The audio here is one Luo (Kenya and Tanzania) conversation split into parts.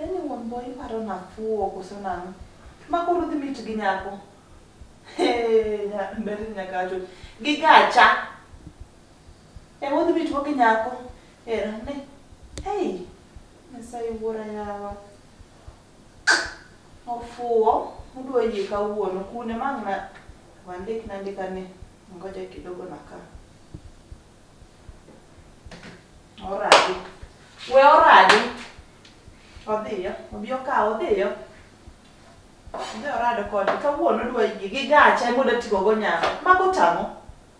Yaani wambo iparo nafuo koso nang'o? Ma koro dhi mit gi nyako. Hey, nya- ber ni nyaka acho. Gi gacha. E mo dhi mit go gi nyako. Era ne. Hey, Nyasaye wuora yawa. Ofuwo mudwa yie kawuono kune mang na wandik na ndika ni ngoja kidogo na ka. Oradi. We oradi. Odhiyo. Obi okaw odhiyo. Odhi orado kode kawuono odwa yie gi gacha ema odwa tigo go nyako. Mago tang'o.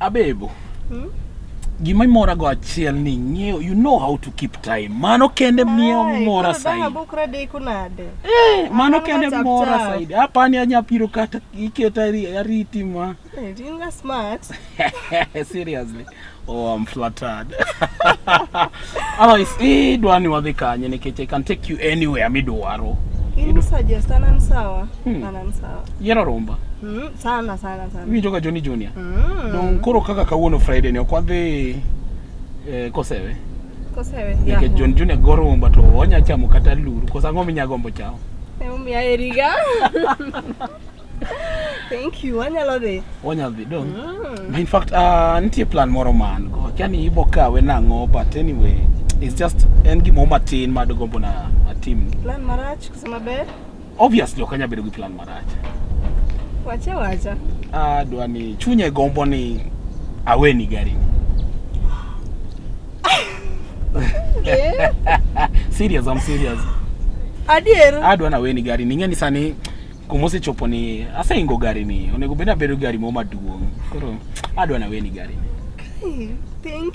Abebo. Hmm? Gima imora go achiel ni ng'eyo you know how to keep time. Mano kende miyo mora saidi. Ai, bukra de kunade. Eh, mano kende mora saidi. Hapa ni anya piro kata iketa ariti ma. Eh, dinga smart. Seriously. Oh, I'm flattered. Otherwise, eh dwani wadhi kanye nikech I can take you anywhere midwaro. Ini suggest anan sawa. Hmm. Anan sawa. Yero romba. Hmm. sana sana sana iwinjo ka joni junior mm. dong koro kaka kawuono friday ni ok wadhi eh, kosewe kosewe nikech yeah. jon junior gorumba to onya chamo kata luru kosa ang'o minya gombo chamo Emomiyo aheriga. Thank you. Wanyalo dhi. onya dhi dong Mm. in fact uh, nitie plan moro ma an go akia ni ibo kawe nang'o but anyway it's just en gimoro matin madogombo na atimni Plan marach kusema ber. Obviously ok anyal bedo gi plan marach. Wacha wacha. Ah, dwa ni chunya e gombo ni aweni gari ni. Yeah. serious, I'm serious. Adier. Adwa na weni gari ni ng'eni sani kuma osechopo ni aseingo gari ni onego bed abedo gari moro maduong'. Koro adwa na weni gari ni. Hey, thank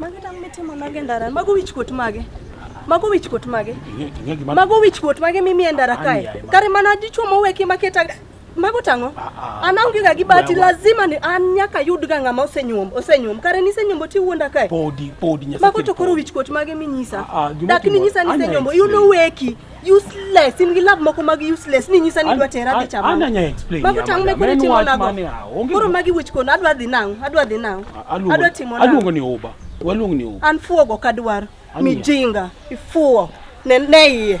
Magi tam mitimo nage e ndara. Mago wich kuot mage. Mago wich kuot mage. Mago wich kuot mage mimi e ndara kae. Kare mana dichwo moweki maketa mago tang'o ah, ah. an aonge ga gi bati lazima ni an nyaka yud ga ng'ama osenyuom osenyuom kare nisenyombo ti wuonda kae podi podi mago to koro wich kuot mage minyisa ah, dak ninyisa nisenyombo iuno weki useless in love moko mag useless ni nyisa ni dwa tera dhi chama ana nya explain mago tang me kuni timo nago koro magi wich kono adwa dhi nang adwa dhi nang adwa timo nang aluongo ni uba waluongo ni uba an fuogo kadwar mijinga ifuo ne ne iye